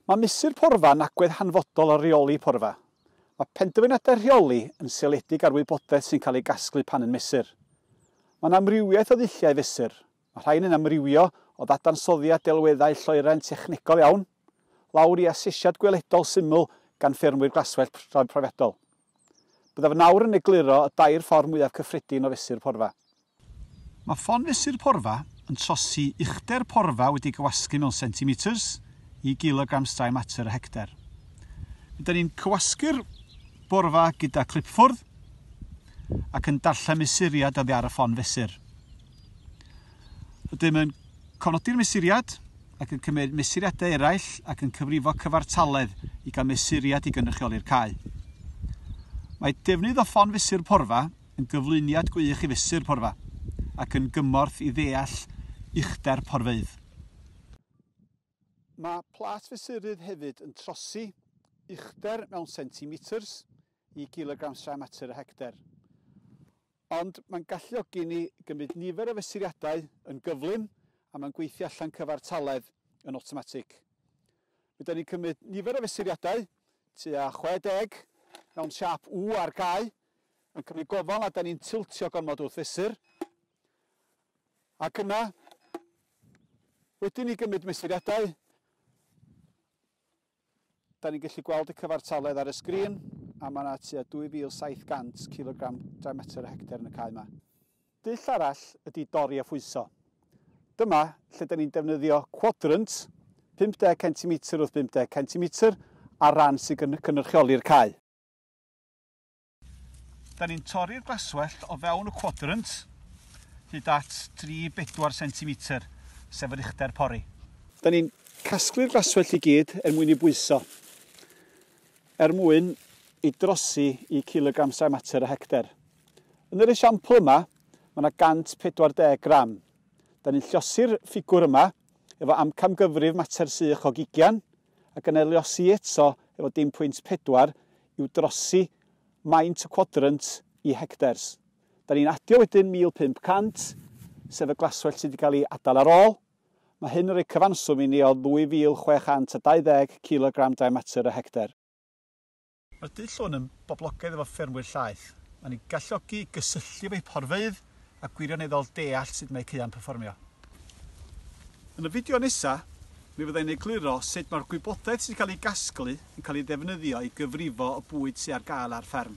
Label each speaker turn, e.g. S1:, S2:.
S1: Mae Mesur Porfa yn agwedd hanfodol ar reoli porfa. Mae penderfyniadau rheoli yn seiliedig ar wybodaeth sy'n cael ei gasglu pan yn mesur. Mae yna amrywiaeth o ddulliau fesur. Mae rhain yn amrywio o ddadansoddiad delweddau lloeren technegol iawn, lawr i asesiad gweledol syml gan ffermwyr glaswellt profiadol. Byddaf nawr yn egluro y dair ffordd mwyaf cyffredin o fesur porfa. Mae ffon fesur porfa yn trosi uchder porfa wedi'i gywasgu mewn centimetres i gilograms dry matter y hectar. Rydyn ni'n cywasgu'r borfa gyda clipffwrdd ac yn darllen mesuriad oddi ar y ffon fesur. Ydym yn cofnodi'r mesuriad ac yn cymryd mesuriadau eraill ac yn cyfrifo cyfartaledd i gael mesuriad i gynrychioli'r cau. Mae defnydd o ffon fesur porfa yn gyflwyniad gwych i fesur porfa ac yn gymorth i ddeall uchder porfeydd. Mae plat fesurydd hefyd yn trosi uchder mewn centimetr i gilogram straen mater y hectar. Ond mae'n galluogi ni gymryd nifer o fesuriadau yn gyflym a mae'n gweithio allan cyfartaledd yn awtomatig. Mi ydyn ni'n cymryd nifer o fesuriadau, tua 60, mewn siâp U ar gau, yn cymryd gofal nad ydyn ni'n tiltio gormod wrth fesur. Ac yna, wedyn i gymryd mesuriadau, da ni'n gallu gweld y cyfartaledd ar y sgrin, a mae yna tua 2,700 kilogram dry matter y hectar yn y cae yma. Dull arall ydy dorri a phwyso. Dyma lle da ni'n defnyddio quadrant 50 centimetr wrth 50 centimetr ar ran sy'n cynrychioli'r cae. Da ni'n torri'r glaswellt o fewn y quadrant hyd at 3-4 centimetr, sef yr uchder pori. Da ni'n casglu'r glaswellt i gyd er mwyn ei bwyso, er mwyn ei drosi i cilogram sain mater y hecter. Yn yr esiampl yma, mae yna 140 gram. Da ni'n llosi'r ffigwr yma efo amcamgyfrif mater sych o gigian, Ac yn erliosi eto efo dim pwynt pedwar yw drosi maint y cwadrant i hectares. Da ni'n adio wedyn 1,500, sef y glaswellt sydd wedi cael ei adael ar ôl. Mae hyn yn rhoi cyfanswm i ni o 2,620 cilogram dry matter y hectar. Mae'r dull hwn yn boblogaidd efo ffermwyr llaeth. Mae'n eu galluogi i gysylltu efo'u porfeydd a gwirioneddol deall sut mae eu caeau'n perfformio. Yn y fideo nesa', mi fydda i'n egluro sut mae'r gwybodaeth sy'n cael ei gasglu yn cael ei ddefnyddio i gyfrifo y bwyd sy' ar gael ar fferm.